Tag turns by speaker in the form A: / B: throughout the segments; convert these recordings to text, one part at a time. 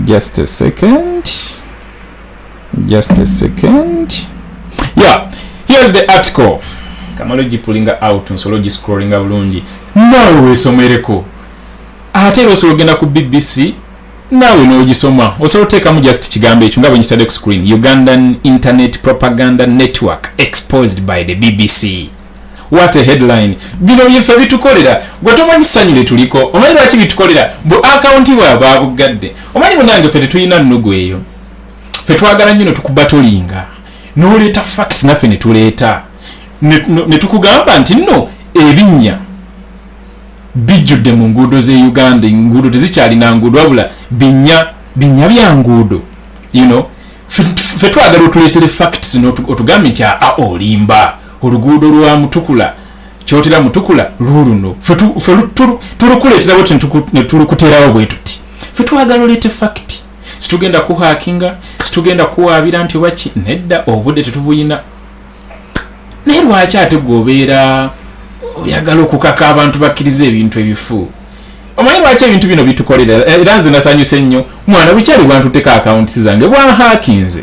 A: just a second just a second yeah here's the article kamala ogipulinga out nsobola ogiscrollinga bulungi naawe weesomereko ate era osobola ogenda ku bbc naawe n'ogisoma osobola oteekamu just kigambo ekyo nga bwenkitadde ku screen ugandan internet propaganda network exposed by the bbc what a headline bino byefe bitukolera gwe tomanyi ssanyu lyetuliko omanyi lwaki bitukolera bu akawunti bwaba abuggadde omanyi munange fe tetulina nnugu eyo fe twagala nnyo netukuba tolinga noleeta facts naffe netuleeta netukugamba nti nno ebinnya bijjudde mu nguudo ze uganda enguudo tezikyalina nguudo wabula binya binya bya nguudo you know fe twagala otuleetere facts notugambe nti aa olimba oluguudo lwa mutukula kyotera mutukula luluno tulukuleetera bwetyo netulukuterawo bwe tuti fe twagala oleete fakiti situgenda kuhakinga situgenda kuwaabira nti waki nedda obudde tetubuyina naye lwaki ate gwe obeera oyagala okukaka abantu bakkiriza ebintu ebifu omanyi lwaki ebintu bino bitukolera era nze nasanyuse nnyo mwana bukyali bwantuteka akawuntisi zange bwahakinze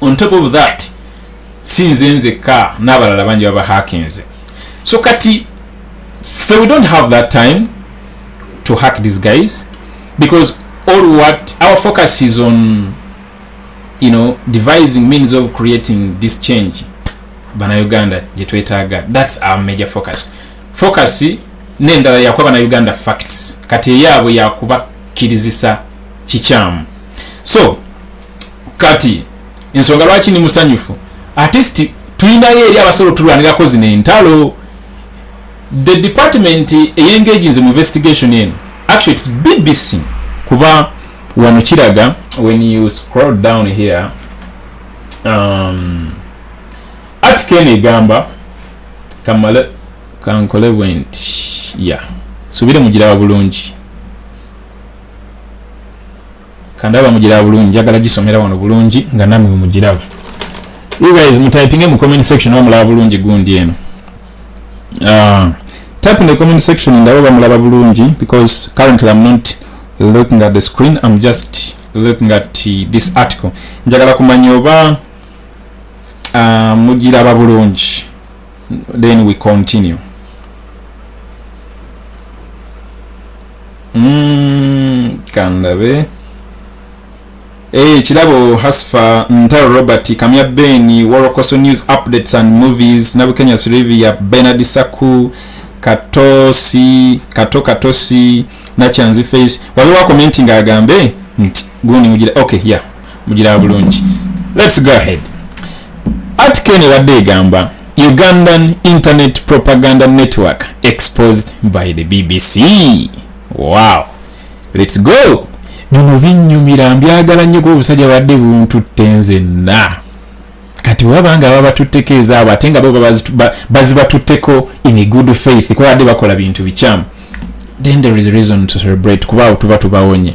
A: on top of that si nze nzekka n'abalala bangi baba hakinze so kati fe we don't have that time to hack these guys because all what our focus is on you know devising means of creating this change bana uganda gyetwetaaga thats our major focus focus nendala yakuba bana uganda facts kati eyaabwe yakuba kirizisa kikyamu so kati ensonga lwaki ni musanyufu atist tulinayo eri abasobola otulwanirako zino entalo the department eyengaginz mu investigation eno actually its bbc kuba wano kiraga when you scroll down here um, atika eno egamba kamale kankole bwenti ya yeah. subire mugiraba bulungi kandaba mugiraba bulungi njagala gisomera wano bulungi nga namwe mugiraba you guys mutypinge mu comment section oba mulaba bulungi gundi eno uh, type in the comment section ndaba oba mulaba bulungi because currently i'm not looking at the screen i'm just looking at this article njagala kumanya oba uh, mugiraba bulungi then we continue mm, kandabe Hey, eh, kirabo hasfa ntaro robert kamya beni worokoso news updates and movies nabukenya sirivi ya benard saku katosi kato katosi nakyanzi face waliwo akomentinga agambe nti gundi mugira okay ya yeah. mugira bulungi let's go ahead article ebadde egamba ugandan internet propaganda network exposed by the bbc wow let's go bino binyumira mbyagala nnyo kuba obusajja badde buntutte nzenna kati waba nga babatutteko ezaabo ate nga bo bazibatutteko in a good faith kuba badde bakola bintu bikyamu then there is reason to celebrate kuba awo tuba tubawonye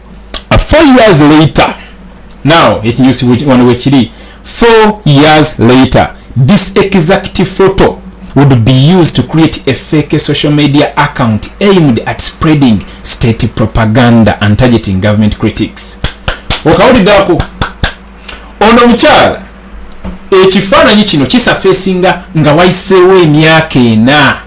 A: uh, four years later now ekinyusi wano wekiri four years later this exact photo would be used to create a fake social media account aimed at spreading state propaganda and targeting government critics okawulidako ono omukyala ekifaananyi kino kisafesinga nga wayiseewo emyaka ena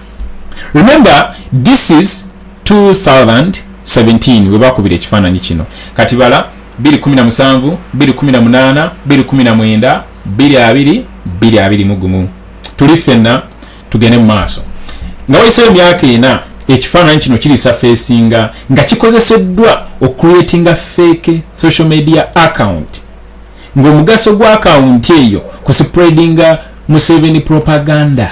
A: remember this is 2017 webakubira ekifaananyi kino kati bala 217 218 219 22 22 mugumu tuli fenna tugende mu maaso nga wayiseyo emyaka ena ekifaananyi kino kirisa feesinga nga kikozeseddwa okucreatinga fake social media account ng'omugaso gwa akawunti eyo ku spreadinga museveni propaganda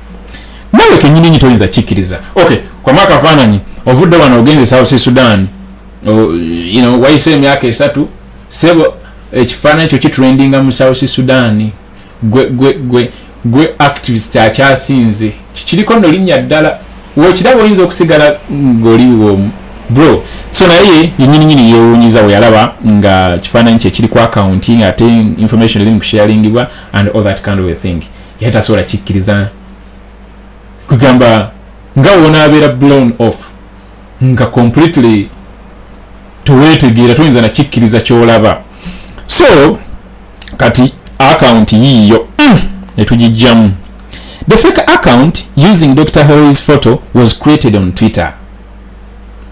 A: nawe kenyini nyi toyinza kikiriza okay kwama akafaananyi ovudde wano ogenze south sudan you know wayise emyaka esatu sebo ekifaananyi kyo kitrendinga mu south sudan gwe gwe gwe gwe activist akyasinze kikiriko no linnya ddala wekiraba oyinza okusigala ngoli womu bro so naye yenyini nyini yewunyiza weyalaba nga kifaananyi kyekiri ku akaunti nga ate information eri mu kusharingibwa and all that kind of a thing yali tasobola kikkiriza kugamba nga wonaabeera blown off nga completely teweetegeera toyinza nakikkiriza kyolaba so kati akawunti yiiyo mm, netugijjamu the fake account using dr harry's photo was created on twitter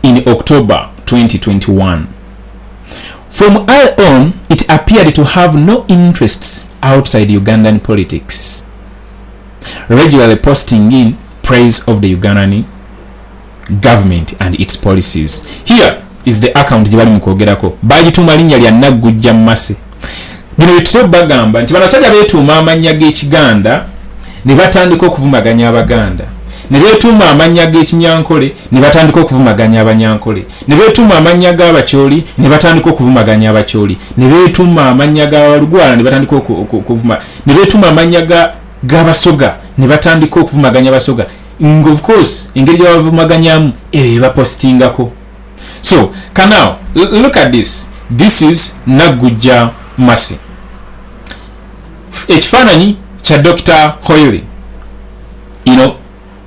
A: in october 2021 from i on it appeared to have no interests outside ugandan politics regularly posting in praise of the ugandan government and its policies here is the account gye bali mu kwogerako bagituuma linnya lya naggujja mumase bino byetutera bagamba nti banasajja beetuuma amannya g'ekiganda ne batandika okuvumaganya abaganda ne beetuuma amannya g'ekinyankole ne batandika okuvumaganya abanyankole ne beetuuma amannya g'abakyoli ne batandika okuvumaganya abakyoli ne beetuuma amannya g'abalugwala ne batandika okuvuma ne beetuuma amannya g'abasoga ne batandika okuvumaganya abasoga of course engeri gyebavumaganyamu ebyo ebapositingako so kanow look at this this is naggujja masi ekifaananyi kya dr hoyly you know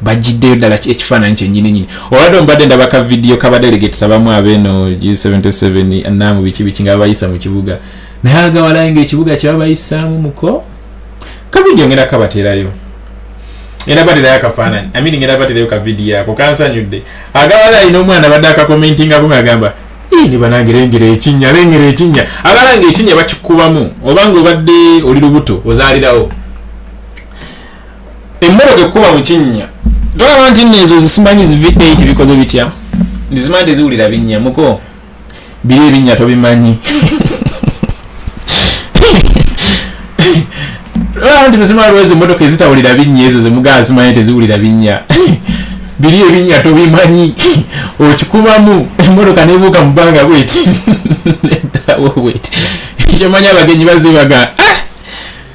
A: bajiddeyo ddala ekifaananyi kyenyininyini olwadde omubadde ndaba ka vidiyo kabadelegates abamu abeeno g77 naamu biki biki nga babayisa mu kibuga naye agawalayo nga ekibuga kyebabayisaamu muko kavidiyo ngenda kabaterayo era baterayo akafaananyi amini ngenda baterayo kavidiyo ako kansanyudde agawala alina omwana badde akakomentingako ngaagamba ni banange lengera ekinya lengera ekinya abalanga ekinya bakikubamu obanga obadde oli lubuto ozaalirawo emmotoka ekkuba mu kinnya tolaba nti nno ezo zisimanyi zi v8 bikoze bitya ndizimanyi teziwulira binnya muko biri ebinnya tobimanyi tolaba nti muzima lwezi emmotoka ezitawulira binnya ezo zemugaa zimanyi teziwulira binnya biri ebinnya tobimanyi okikubamu emmotoka nebuuka mu bbanga bweti edawo bweti ekyomanyi abagenyi bazebaga ah!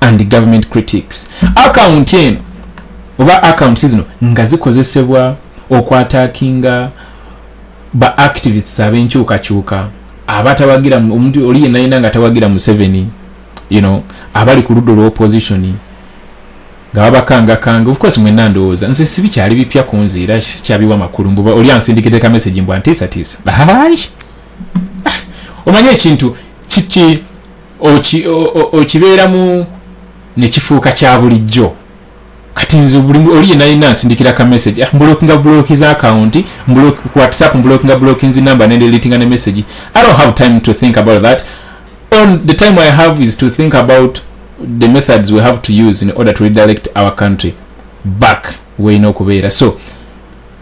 A: and government critics account eno oba accounts zino nga zikozesebwa okwatakinga ba activists abenkyukakyuka abatawagira omuntu oli yenna yenna nga tawagira museveni you know abali ku ludda olwa opposition nga babakangakanga ofcourse mwena ndowooza nze sibi kyali bipya ku nze era sikyabiwa makulu mbu oli ansindikide ka message mbu antiisatiisa ah, omanye ekintu kiki okibeeramu nekifuuka kya bulijjo kati nze oli yenalina nsindikira ka message ah, mbulokinga buloki za akawunti ku whatsapp mbulokinga buloki nzi number nende litinga ne message i don't have time to think about that on the time i have is to think about the methods we have to use in order to redirect our country back weyina okubeera so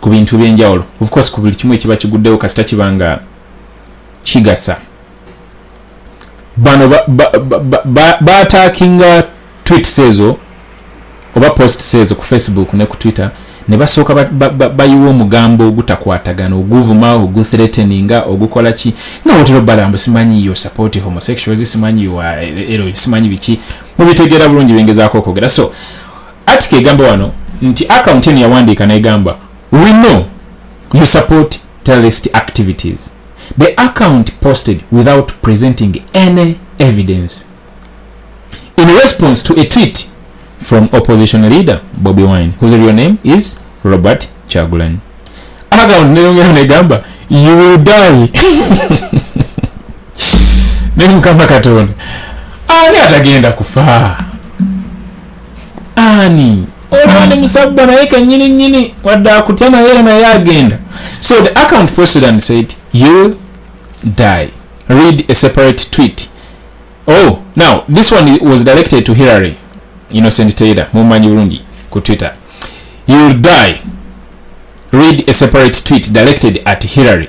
A: ku bintu byenjawulo of course ku buli kimu ekiba kiguddewo kasita kiba nga kigasa bano batakinga ba, ba, ba, ba tweets ezo oba posts ezo ku facebook ne ku twitter ne basooka bayiwa ba, ba, omugambo ogutakwatagana oguvuma oguthreateninga ogukola ki nga wotero balambu simanyi yo support homosexuals simanyi wa ero simanyi biki mubitegeera bulungi bengezaako okwogera so Article egamba wano nti account eno yawandiika negamba we know you support terrorist activities the account posted without presenting any evidence in response to a tweet from opposition leader Bobby Wine whose real name is Robert Chagulan account neyongera negamba you will die nemukama katonda ani atagenda kufaa ani olaba ne musabba naye kenyini nyini wadde akutya naye era naye agenda so the account posted and said you die read a separate tweet oh now this one was directed to hillary innocent taylor mumanyi bulungi ku twitter you'll die read a separate tweet directed at hillary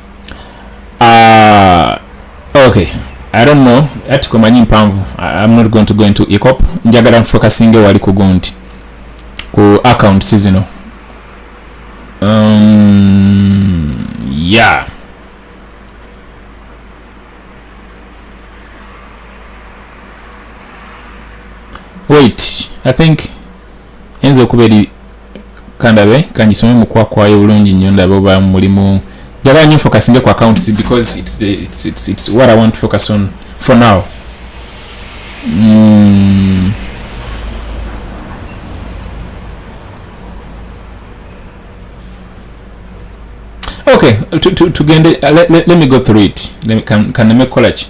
A: uh, okay i don't know ati komanyi mpanvu i'm not going to go into ecop njagala nfocusinge wali kugo nti ku account sizino um, yeah wait i think enza okuba eri kandabe kangisome mukwakwayo bulungi nnyo ndabe oba mulimu njagala nyo focus nge ku accounts because it's, the, it's, it's, it's what i want to focus on for now mm. okay tugende to, to, to uh, let, let, let me go through it kaneme kukolaki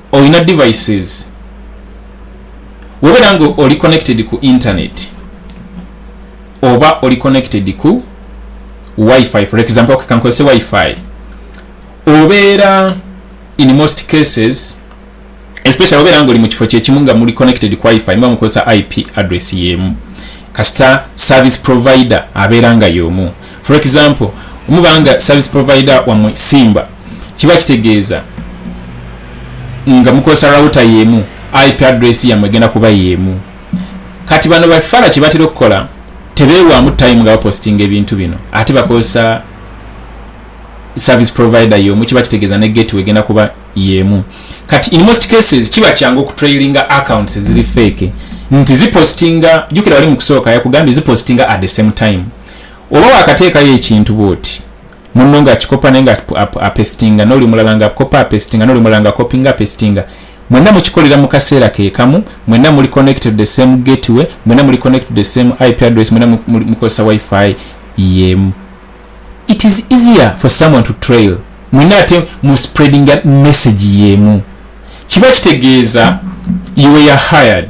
A: olina devices webera nga oli connected ku internet oba oli connected ku wifi for example kankozese wifi obeera in most cases especially obeera nga oli mu kifo kyekimu nga muli connected ku wifi muba mukozesa ip address yemu kasita service provider abeera nga yomu for example omubanga service provider wamwe simba kiba kitegeeza nga mukozesa router yemu ip address yamwe egenda kuba yemu kati bano bafala kyebatera okukola tebewamu time nga bapostinga ebintu bino ate bakozesa service provider yomu kiba kitegeeza ne gateway egenda kuba yemu kati in most cases kiba kyangu okutrailinga accounts eziri fake nti zipostinga jukira wali mu kusooka yakugambye zipostinga at the same time oba wakateekayo ekintu bwoti munno nga akikopa naye nga apestinga noli mulala nga akopa apestinga noli mulala nga akopinga apestinga mwenna mukikolera mu kaseera kekamu mwenna muli connected the same gateway mwenna muli connected the same ip address mwenna mukozesa wifi yemu it is easier for someone to trail mwenna ate mu spreadinga message yemu kiba kitegeeza you were hired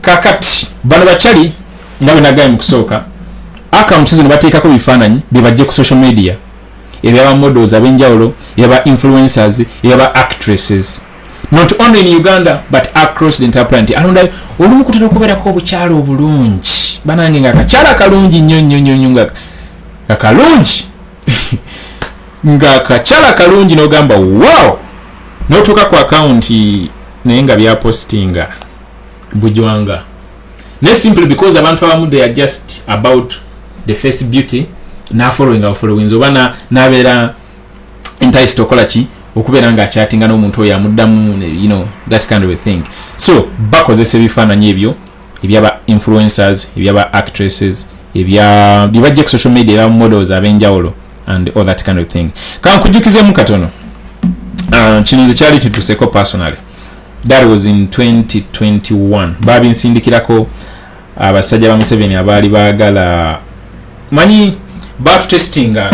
A: kakati bano bakyali nga benagaye mukusooka akaunti zino bateekako bifaananyi byebajje ku social media ebyaba models abenjawulo yaba influencers yaba actresses not only in uganda but across the entire planet alonda olumu kutera okubeerako obukyala obulungi banange nga akakyala kalungi nnyo nnyo nnyo nnyo nga kalungi nga kakyala kalungi nogamba wow notuuka ku akawunti naye nga byapositinga bujwanga naye simply because abantu abamu they are just about the face beauty nafollowing afollowings oba nabeera enticed okola ki okubeera nga akyatinga n'omuntu oyo amuddamu you know that kind of a thing so bakozesa ebifaananyi ebyo ebyaba influencers ebyaba actresses ebya bibajje ku social media ebya models abenjawulo and all that kind of thing kankujukizemu katono uh, kino nze kyali kituseko personally that was in 2021 babinsindikirako abasajja ba museveni abaali baagala manyi batutestinga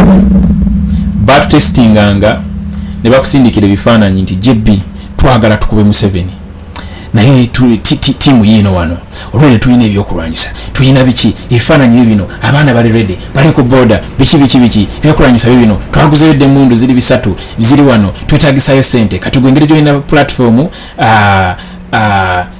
A: batutestinganga ne bakusindikira ebifaananyi nti jb twagala tukube museveni naye tiimu yiino wano olwene tulina ebyokulwanyisa tulina biki ebifaananyi bye bino abaana bali redi bali ku boda biki biki biki ebyokulwanyisa bye bino twaguzeyo dde emundu ziri bisatu ziri wano twetagisayo sente kati gwengeri gyolina pulatifomu ah, ah,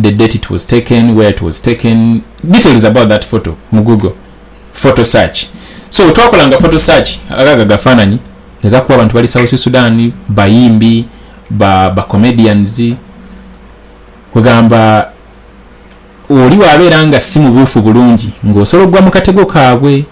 A: the date it was taken where it was taken details about that photo mu google photo search so twakolanga photo search agaga gafaananyi negakuba abantu bali south sudan bayimbi ba, ba comedians kwegamba oli wabeera nga si mubuufu bulungi ng'osobola okugwa mu katego kaabwe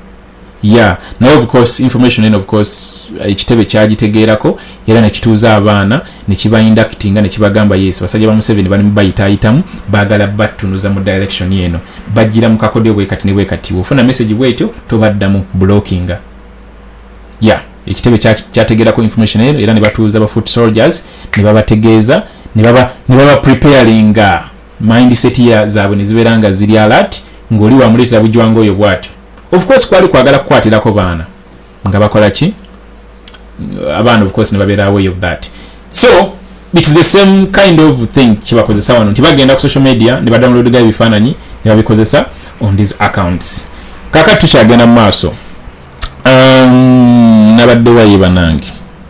A: ya naye of course information eno of course ekitebe kyagitegeerako era nekituuza abaana nekibainductinga nekibagamba yes basajja ba museveni bali mubayitaayitamu baagala battunuza mu direction eno bajjira mu kakodyo bwekati ne bwekati ofuna message bwetyo tobaddamu blockinga ya ekitebe kyategeerako information eno era nebatuuza ba foot soldiers nebabategeeza nebaba preparinga mindset ya zaabwe ne zibeera nga ziri alert ng'oli wamuleetera bujwanga oyo bw'atyo of course kwali kwagala kukwatirako baana nga bakola ki abaana of course ne babeera away of that so it's the same kind of thing kyebakozesa wano nti bagenda ku social media ne badownload ga ebifaananyi ne babikozesa on these accounts kakati tukyagenda mu maaso um, nabadde waye banange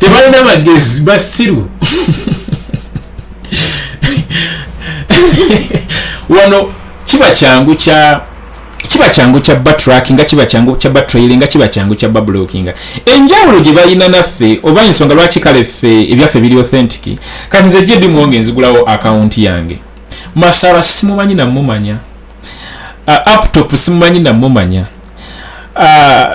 A: tebalina magezi basiru wano kiba kyangu kya kiba kyangu kya batrackinga kiba kyangu kya batrailinga kiba kyangu kya bablockinga enjawulo gye balina naffe oba ensonga lwaki kale ffe ebyaffe biri authentic kati nze jedi mwonge nzigulawo akawunti yange masara simumanyi namumanya uh, aptop simumanyi namumanya uh,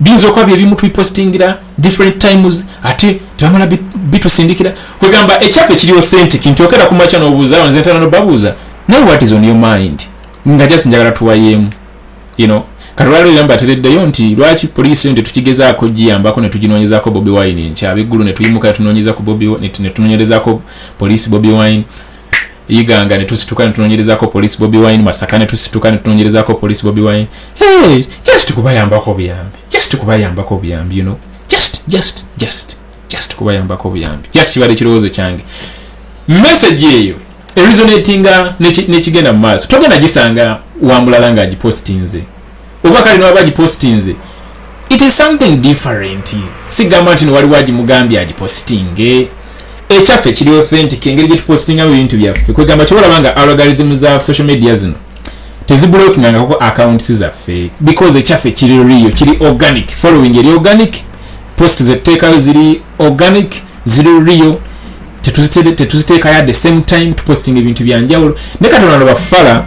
A: biyinza okuba byebimu tubipostingira different times ate tebamala bitusindikira kwegamba ekyaffe kiri authentic nti okera kumakya nobuuza nze ntana nobabuuza naye what is on your mind nga just njagala tuwayeemu you know kalwalo yamba atereddeyo nti lwaki poliisi yo tetukigezaako giyambako netuginoonyezako bobi wine nkyabiggulu netuyimuka netunoonyeza ku bobi netunoonyerezako poliisi bobi wine iganga netusituka netunonyerezako police bobi wine masaka netusituka netunonyerezako police bobi wine hey, just kubayambako obuyambi just kubayambako obuyambi you know just just just just kubayambako obuyambi just kibadde kirowoozo kyange message eyo eresonatinga nekigenda mu maaso togenda gisanga wamulala nga agipostinze oba kale newaba agipositinze it is something different sigamba nti newaliwo agimugambye agipositinge ekyaffe kiri authentic engeri gyetupositingamu ebintu byaffe kwegamba kyobalaba nga algorithm za social media zino teziblokingangako accounts zaffe because ekyaffe kiri rio kiri organic following eri organic post zetuteekayo ziri organic ziri rio tetuziteekayo at the same time tupositinga ebintu byanjawulo ne katonda nobafala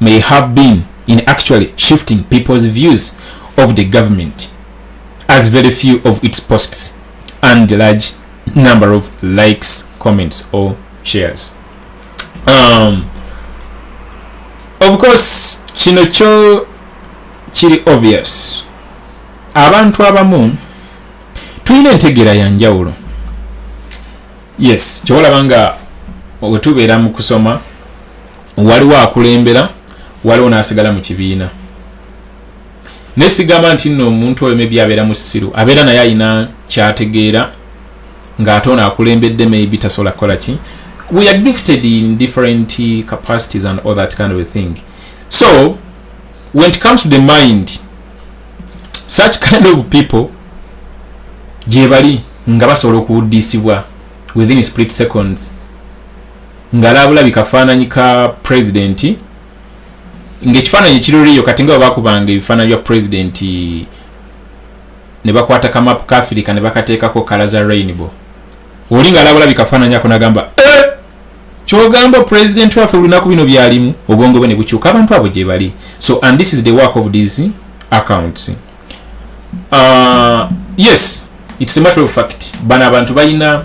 A: may have been in actually shifting people's views of the government as very few of its posts and the large number of likes comments or shares um, of course kino kyo kiri obvious abantu abamu tulina entegeera ya njawulo yes kyewolaba nga wetubeera mu kusoma waliwo akulembera waliwo n'asigala mu kibiina naye sigamba nti nno omuntu oyo maybe abeera musiru abeera naye alina kyategeera ng'ate ono akulembedde maybe tasobola kukola ki we are gifted in different capacities and all that kind of a thing so when it comes to the mind such kind of people gyebali nga basobola okuwuddisibwa within split seconds ngalabulabi kafaananyi ka pulezidenti ngaekifaananyi ekiroliyo kati nga webakubanga ebifaananyi bya pulezidenti ne bakwata kamapu ka afirika ne bakateekako kala za rainbow oli nga alabulabi kafaananyi ako nagamba eh! kyogamba pulezidenti waffe olunaku bino byalimu obwongo bwe ne bukyuka abantu abo gye bali so and this is the work of these accounts uh, yes it's a matter of fact bano abantu balina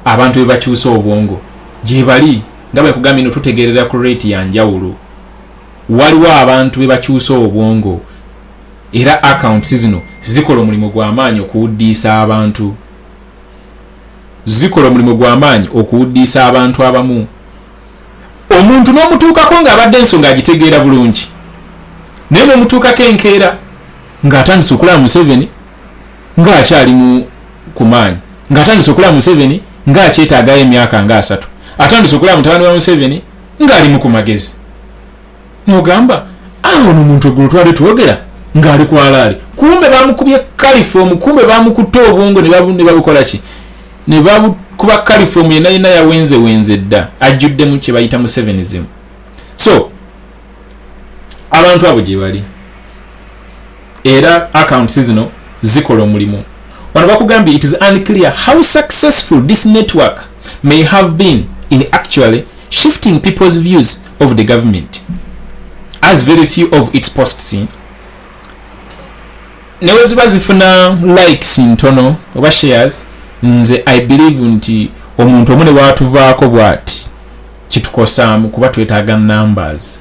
A: abantu bebakyusa obwongo gyebali nga bwekugambye no tutegerera ku rate ya njawulo waliwo abantu bebakyusa obwongo era accounts zino zikola omulimu gwamaanyi okuwuddiisa abantu zikola omulimu gwamaanyi okuwuddiisa abantu abamu omuntu n'omutuukako ng'abadde ensonga agitegeera bulungi naye bwemutuukako enkeera ng'atandise okulaba museveni ng'akyali mu ku maanyi ng'atandise okulaba museveni ng'akyetaagayo emyaka ng'asatu atandise okulaba mutabani wa museveni ng'alimu ku magezi nogamba awo ah, nomuntu egulu twade twogera ngaali kwalaali kumbe bamukubye kalifoomu kumbe bamukutte obwongo nebabukolaki nebakuba kalifoomu yena yena yawenze wenze dda ajjuddemu kyebayita mu sevenizimu so abantu abo gyebali era accounts zino zikola omulimu wano bakugambye it is unclear how successful this network may have been in actually shifting people's views of the government as very few of its posts in neweziba zifuna likes ntono oba shares nze i believe nti omuntu omu newatuvaako bwati kitukosaamu kuba twetaaga numbers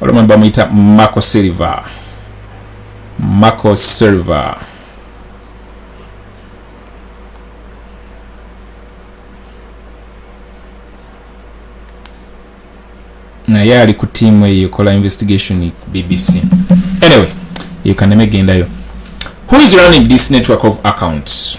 A: olomwe bamuyita marco silver marco silver naye ali ku tiimu eyo ekola investigation bbc anyway eyo kaneme gendayo who is running this network of accounts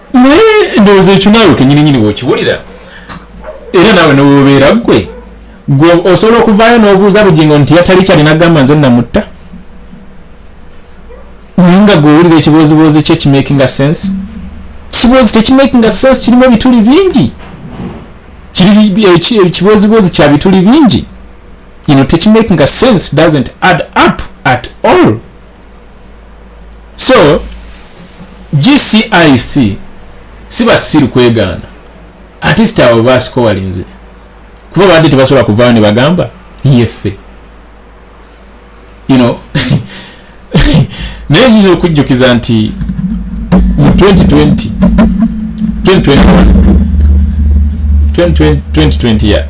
A: naye ndowooza ekyo naawe kenyininyini wokiwulira era naawe newobeera gwe gwe osobola okuvaayo n'obuuza bugingo nti yatali kyali nagamba nze namutta naye nga gwewulira ekibooziboozi kye kimakinga sense kiboozi tekimakinga sense kirimu ebituli bingi ekibooziboozi eh, eh, kya bituli bingi you know, tekimakinga sense doesn't add up at all so gcic si basiru kwegaana atist abo basikowalinze kuba badde tebasobola kuvaayo ne bagamba yeffe you know naye nyinza okujjukiza nti mu 2020 2020 ya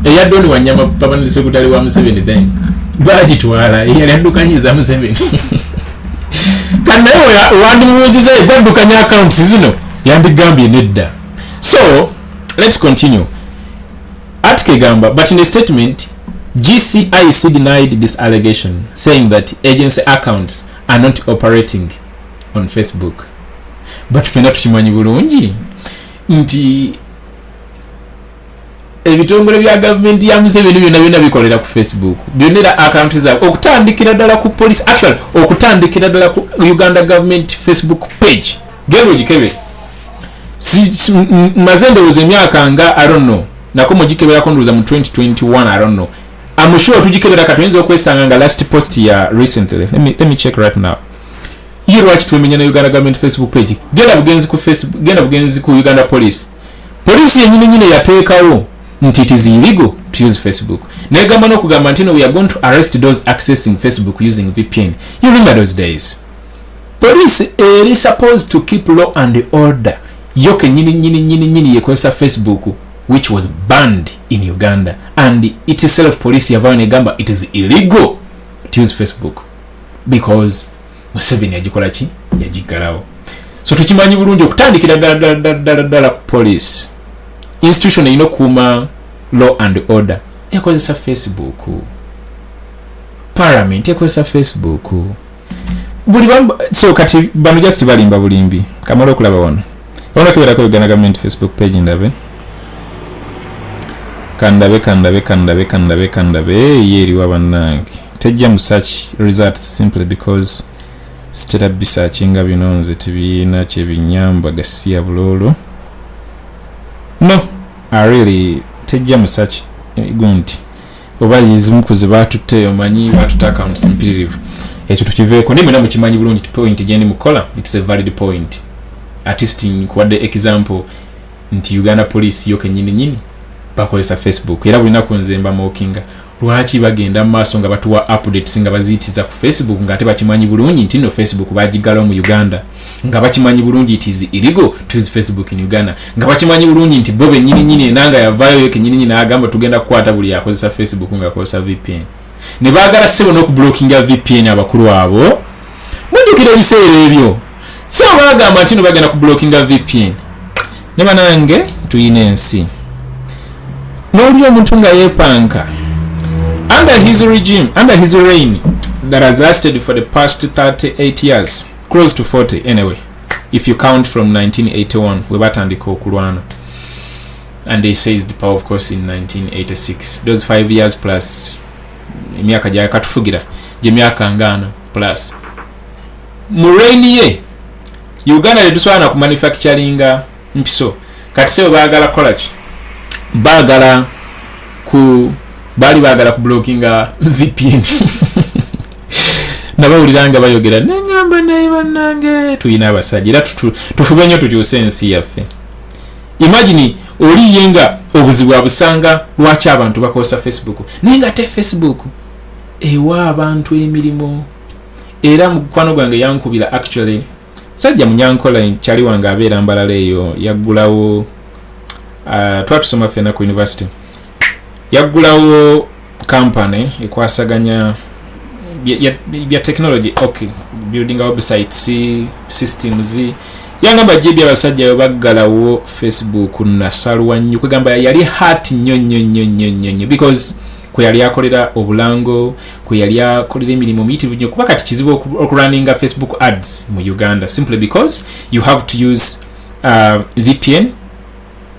A: eya doni wanyama pabanali sekutale wa museveni then bagitwala eyali addukanyiza museveni kandi naye wandimubuuziza egwaddukanya accounts zino yandigambye nedda so let's continue article egamba but in a statement gcic denied this allegation saying that agency accounts are not operating on facebook but fena tukimanyi bulungi nti ebitongole bya gavumenti ya museveni byonna byonna bikolera ku facebook byonna era akaunti zaabwe okutandikira ddala ku police actual okutandikira ddala ku uganda government facebook page gero gikebe maze ndowooza emyaka nga aronno nako mugikeberako ndowooza mu 2021 aronno amushuwa tugikebera ka tuyinza okwesanga nga last post ya recently let me, let me check right now ye lwaki twemenya na uganda government facebook page genda bugenzi ku facebook genda bugenzi ku uganda police Poliisi yenyini nyini yateekawo nti it is illegal to use Facebook. Negamba n'okugamba nti no we are going to arrest those accessing Facebook using VPN. You remember those days? Poliisi eri supposed to keep law and order. Yo kenyini nyini nyini nyini yekozesa Facebook which was banned in Uganda and it itself police yavayo negamba it is illegal to use Facebook because museveni yagikola ki yagiggalawo so tukimanyi bulungi okutandikira ddala ddala ku police institution erina okukuuma law and order ekozesa facebook parliament ekozesa facebook buli so kati bano just balimba bulimbi kamala okulaba wano Wala kibera ko Uganda government Facebook page ndabe. Kandabe kandabe kandabe kandabe kandabe ye eri wabanange. Tejja mu search results simply because sitera bisakinga bino nze tibiina kyebinyamba gasiya bulolo. No, I really tejja mu search eh, gunti. oba yezimu kuzibaatutte omanyi baatutte accounts mpitirivu ekyo tukiveeko naye mwena mukimanyi bulungi point gyendi mukukola its a valid point artist nkuwadde example nti uganda police yo kenyini nyini bakozesa facebook era bulinaku nze mbamokinga lwaki bagenda mu maaso nga batuwa updates nga baziyitiriza ku facebook nga ate bakimanyi bulungi nti no facebook bagigalawo mu uganda nga bakimanyi bulungi it is illegal to use facebook in uganda nga bakimanyi bulungi nti bo benyininyini enanga yavayo yo kenyininyini n'agamba tugenda kukwata buli yakozesa facebook nga akozesa vpn ne baagala sebo n'okublockinga vpn abakulu abo mujjukira ebiseera ebyo sebo baagamba nti no bagenda kublockinga vpn ne banange tulina ensi n'oli omuntu nga yeepanka under his regime under his reign that has lasted for the past 38 years close to 40 anyway if you count from 1981 we batandika okulwana and they says the power of course in 1986 those five years plus emyaka gyakatufugira gyemyaka ngaano plus mu rain ye uganda tetusobola na kumanufacturinga mpiso kati sebo bagala kolaki bagala ku baali bagala ku blokinga vpn nabawulira nga bayogera nenyamba naye banange tulina abasajja era tufube nyo tukyuse ensi yaffe imagini oliye nga obuzibu abusanga lwaki abantu bakozesa facebook naye nga te facebook ewa abantu emirimu era mukwano gwange yankubira actually sajja munyankola kyali wange abeera mbalala eyo yaggulawo uh, twatusoma fena ku university yaggulawo company ekwasaganya bya technology ok building website si systems yangamba jibi abasajja baggalawo facebook nasalwa nnyo kwegamba yali hat nnyo nnyo nnyo nnyo nnyo nnyo because kwe yali akolera obulango kwe yali akolera emirimu miyitivu nyo kuba kati kizibu okurunninga facebook ads mu uganda simply because you have to use uh, vpn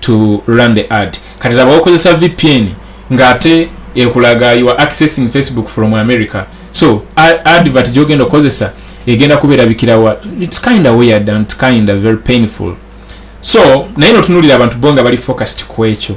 A: to run the ad kati laba okozesa vpn ngaate ekulaga you are accessing facebook from america so advert gyogenda okozesa egenda kuberabikirawa its kinda weird and kinda very painful so naye notunulira abantu bo nga bali focused ku ekyo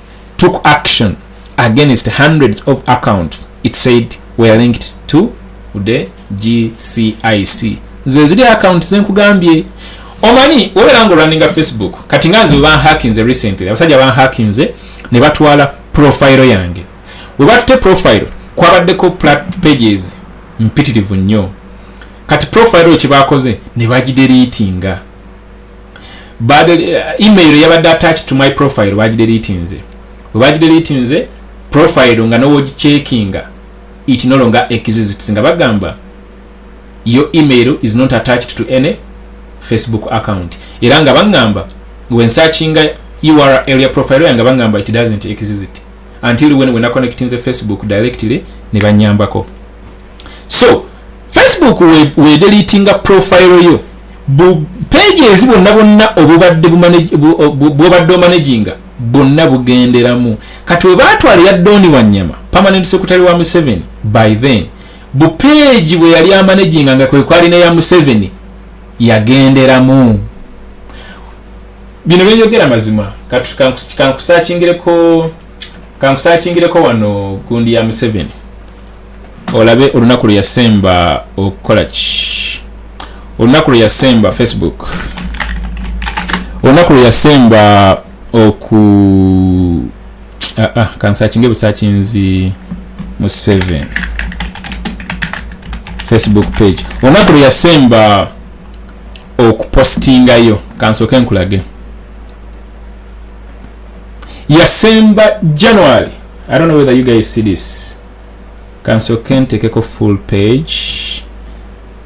A: took action against hundreds of accounts it said were linked to the gcic nze ziri account zenkugambye omanyi wobeera nga olwaninga facebook kati nga nze webanhakinze recently abasajja banhakinze ne batwala profile yange webatute profile kwabaddeko pages mpitirivu nnyo kati profile oyo kyebakoze ne bagideriitinga Bad, uh, email yabadde attached to my profile bagideletinze webagideletinze profile nga nowogicheckinga it no longer exists nga bagamba your email is not attached to any facebook account era nga bangamba wensachinga url ya profile yanga bangamba it doesn't exist until when wena connectinze facebook directly nebanyambako so facebook wedelitinga profile yo bu page ezi bonna bonna obubadde bwobadde omanaginga bonna bugenderamu kati webatwala ya doni wanyama permanent secretary wa museveni by then bu page bweyali amanaginga nga kwekwali neya museveni yagenderamu bino byenyogera mazima kati kankusakingireko kankusakingireko wano gundi ya museveni olabe olunaku lwe yasemba okukola ki olunaku lwe yasemba facebook olunaku lwe yasemba oku ah, ah, kansakinge busakinzi mu 7 facebook page olunaku lwe yasemba okupostingayo kansooke nkulage yasemba january i don't know whether you guys see this kansoke ntekeko full page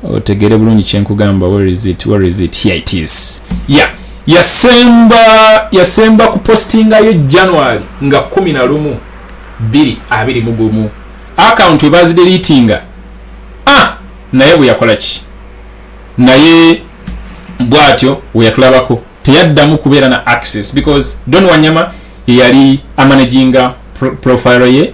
A: otegere bulungi kyenkugamba where is it where is it here it is yeah yasemba yasemba ku postingayo january nga 11 2 mugumu account ebazidelitinga ah naye bweyakola ki naye bwatyo weyatulabako teyaddamu kubeera na access because don wanyama yeyali amanaginga profile ye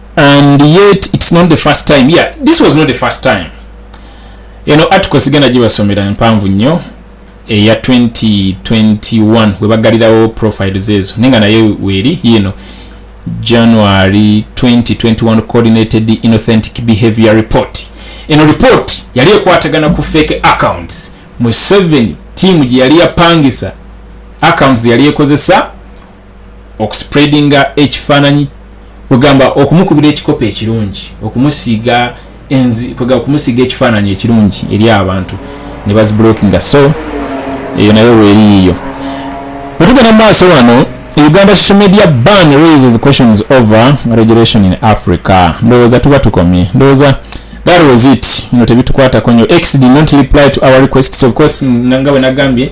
A: and yet it's not the first time yeah this was not the first time eno article sigenda gibasomera empanvu nnyo eya 2021 webagalirawo profiles ezo naye nga naye weeri yiino january 2021 coordinated inauthentic behavior report eno report yali ekwatagana ku fake accounts mu 7 tiimu gye yali yapangisa accounts yali ekozesa okuspreadinga ekifaananyi kwegamba okumukubira ekikopo ekirungi okumusiiga enzi kwegamba okumusiiga ekifaananyi ekirungi eri abantu ne baziblokinga so eyo nayo weeriiyo wetugenda mu maaso wano uganda social media ban raises questions over regulation in africa ndowooza tuba tukomye ndowooza that was it no tebitukwatako nyo x did not reply to our requests of course nga bwe nagambye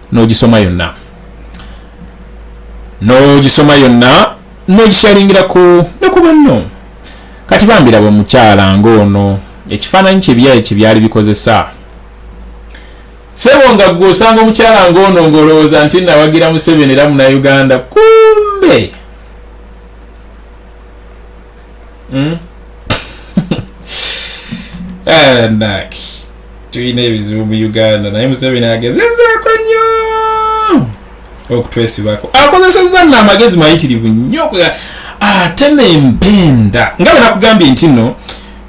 A: n'ogisoma yonna n'ogisoma yonna n'ogikyalingirako ne ku banno kati bambiraba omukyala ng'ono ekifaananyi kye byayi kye byali bikozesa sebo nga gwe osanga omukyala ng'ono ng'olowooza nti nawagira museveni era munauganda kumbe hmm? eh, tulina ebizibu mu uganda naye museveni agezezaako nnyo okutwesibako akozesezza nno amagezi mayitirivu nnyo ate nempenda nga benakugambye nti no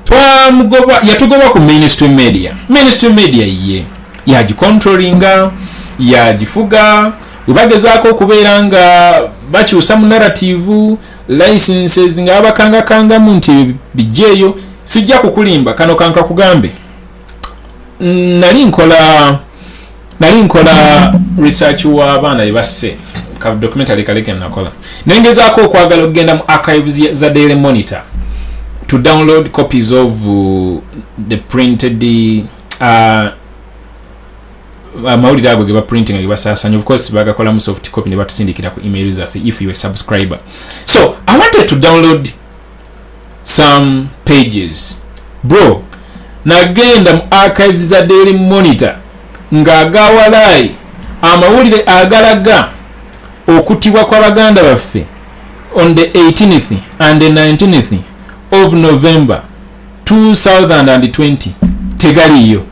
A: twamugoba yatugoba ku ministry media ministry media ye yagicontrollinga yagifuga webagezaako okubeera nga bakyusa mu narativu licenses nga abakangakangamu nti ebyo bijjeeyo sijja kukulimba kano kanka kugambe nali nkola nali nkola research wa abaana bebasse ka documentary kaleke nakola nengezaako okwagala okugenda mu archives za daily monitor to download copies of uh, the printed uh, amawulire ago geba printing geba sasanya of course bagakola mu soft copy ne batusindikira ku email zaffe if you a subscriber so i wanted to download some pages bro nagenda mu archives za daily monitor nga agawalayi amawulire agalaga okutibwa kwa baganda baffe on the 18th and the 19th of november 2020 tegaliyo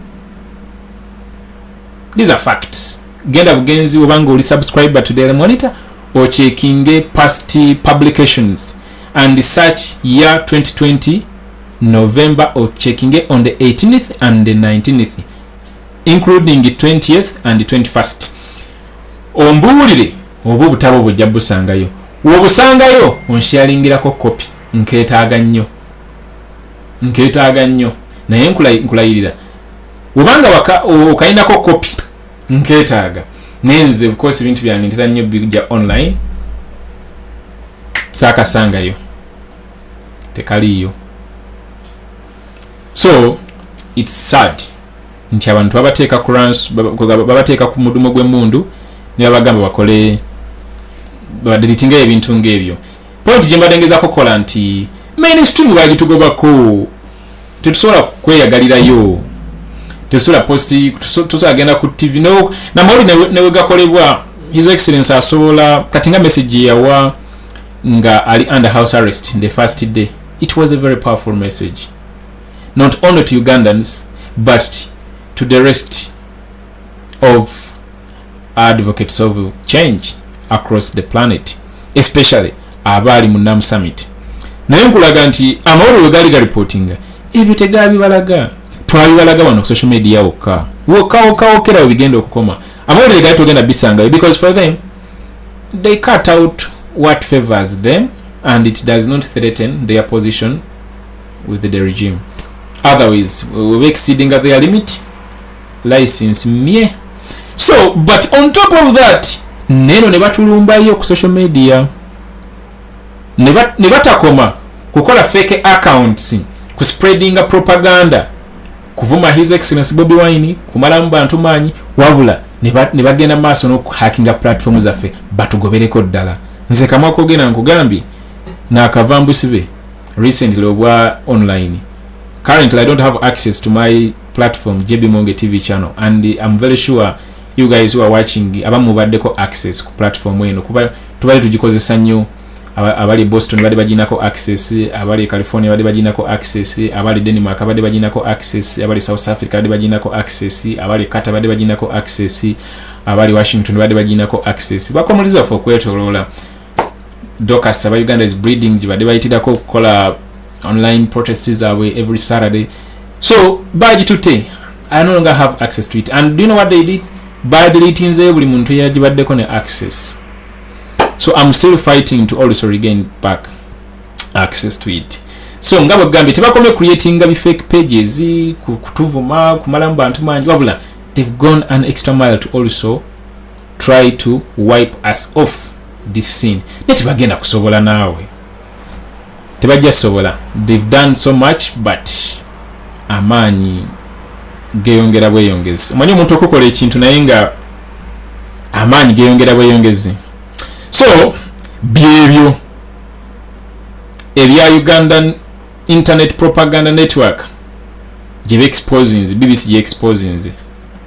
A: these are facts genda bugenzi obanga oli subscriber to daily monitor ocheckinge past publications and search year 2020 november ocheckinge on the 18th and the 19th including 20th and 21st ombuulire oba obutabo bujja busangayo wobusangayo onsharingirako kopi nketaaga nnyo nketaaga nnyo naye nkulayirira webanga waka okainako kopi nketaaga naye nze bikosi ebintu byange ntera nnyo bigya online saakasangayo tekaliiyo so its sad nti abantu babateeka kurans babateeka ku mudumo gw'emundu nebabagamba bakole babadiritingayo ebintu ngaebyo point gyembadde ngezako kola nti mainstream bagitugobako tetusobola kweyagalirayo tesola posti tusola genda ku tv no namawuli newegakolebwa his excellence asobola kati nga message yawa nga ali under house arrest the first day it was a very powerful message not only to ugandans but to the rest of advocates of change across the planet especially abaali mu nam summit naye nkulaga nti amawulire we gaali galipotinga ebyo tegabibalaga twabibalaga wano ku social media wokka wokka wokka wokera we bigenda okukoma amawulire gaali togenda bisangayo because for them they cut out what favors them and it does not threaten their position with the regime otherwise we exceeding their limit license mye so but on top of that neno ne batulumbayo ku social media ne batakoma kukola fake accounts ku spreadinga propaganda kuvuma his excellence bobi wine kumalamu bantu maanyi wabula ne bagenda maaso n'okuhakinga platform zaffe batugobereko ddala nze kamwa kogenda nkugambye nakava mbusibe recently obwa online currently i don't have access to my platform JB Monge TV channel and I'm very sure you guys who are watching abamu baddeko access ku platform eno kuba tubali tugikozesa nnyo abali Boston bali bajinako access abali California bali bajinako access abali Denmark bali bajinako access abali South Africa bali bajinako access abali Qatar bali bajinako access abali Washington bali bajinako access bakomulizwa for kwetolola docas aba uganda is breeding gibadde bayitirako okukola online protest zaabwe every saturday so bagitutte i no longer have access to it and do you know what they did badeletinzeyo buli muntu yagibaddeko ne access so im still fighting to also regain back access to it so nga bwegambye tebakomye creatinga bifake pages kutuvuma kumalamu bantu mangi wabula they've gone an extra mile to also try to wipe us off this scene naye tebagenda kusobola naawe tebajja sobola they've done so much but amaanyi geyongera bweyongezi omanyi omuntu okukola ekintu naye nga amaanyi geyongera bweyongezi so byebyo ebya ugandan internet propaganda network gyebeexposinze bbc gyeexposinze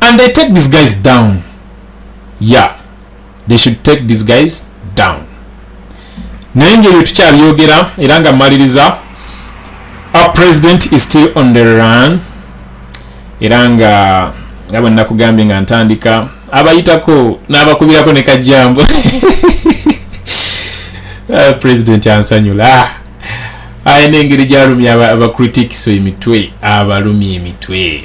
A: and they take these guys down yeah they should take these guys down naye ngeri tukyabyogera era nga maliriza our president is still on the run era nga nga bwe nakugambye nga ntandika abayitako n'abakubirako ne kajjambo ah, president ansanyula ah, ayina engeri gyalumya abacritics emitwe abalumya emitwe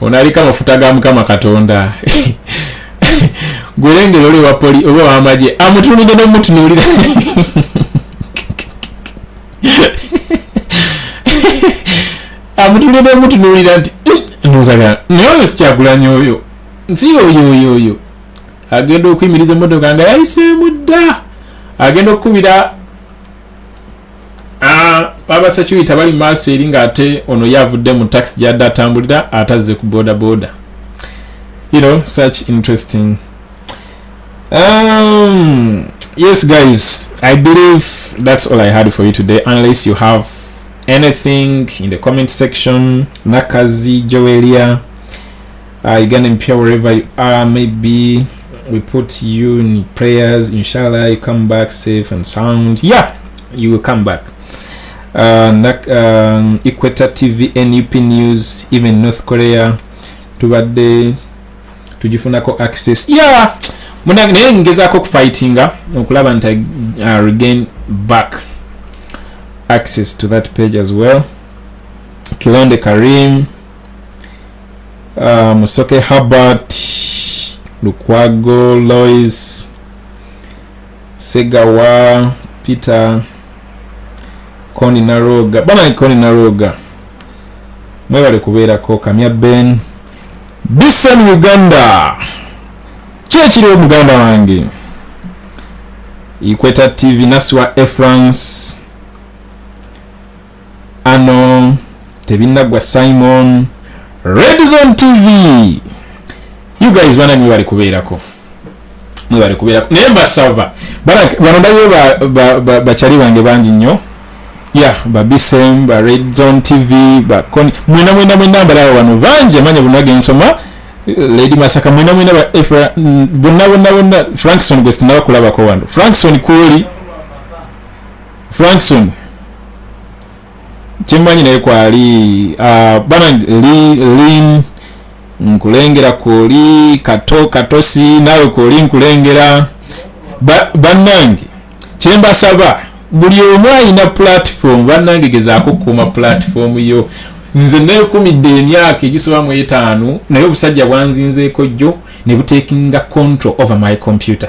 A: ono aliko amafuta ga mukama katonda gwelengera oli wapoli oba wamagye amutunudde nomutunuulira amutunudde nomutunuulira nti hmm, nzaga naye oyo sikyagulanya oyo nsi oyo oyo oyo agenda okuyimiriza emotoka nga yayiseemu dda agenda okukubira baba security bali maaso eri ng'ate ono ye avudde mu taxi gyadde atambulira atazze ku boda boda you know such interesting um, yes guys i believe that's all i had for you today unless you have anything in the comment section nakazi joelia Uh, Uganda Mpia, wherever you are, maybe we put you in prayers. Inshallah, you come back safe and sound. Yeah, you will come back. Uh, um, Equator TV, NUP News, even North Korea, tubadde tujifunako access. Yeah, munange naye ngezaako okufightinga okulaba nti uh, regain back access to that page as well. Kilonde Karim. uh, musoke habert lukwago lois segawa peter koni naroga bana koni naroga mwebale kubeerako kamya ben bison uganda kyekiriwo muganda wange ikweta tv nasiwa efrance ano tebinagwa simon red zone tv you guys bana mwe bali kubeerako mwe bali kubeerako naye mbasava bano ndayo bakyali bange bangi nnyo ya babisem ba red zone tv bakoni mwena mwena mwena mbalaba bano bangi amanya bunage nsoma lady masaka mwena mwena bonna bonna bonna frankson gwe sinabakulabako wano frankson kwoli frankson kyemmanyi naye kwali ah, bana lin nkulengera kwoli kato katosi naawe kwoli nkulengera bannange kyembasaba buli omu ayina pulatifomu bannange gezaako okukuuma pulatifomu yo nze nekumidde emyaka egisoba mu etaano naye obusajja bwanzinzeeko jjo ne butekinga control over my computer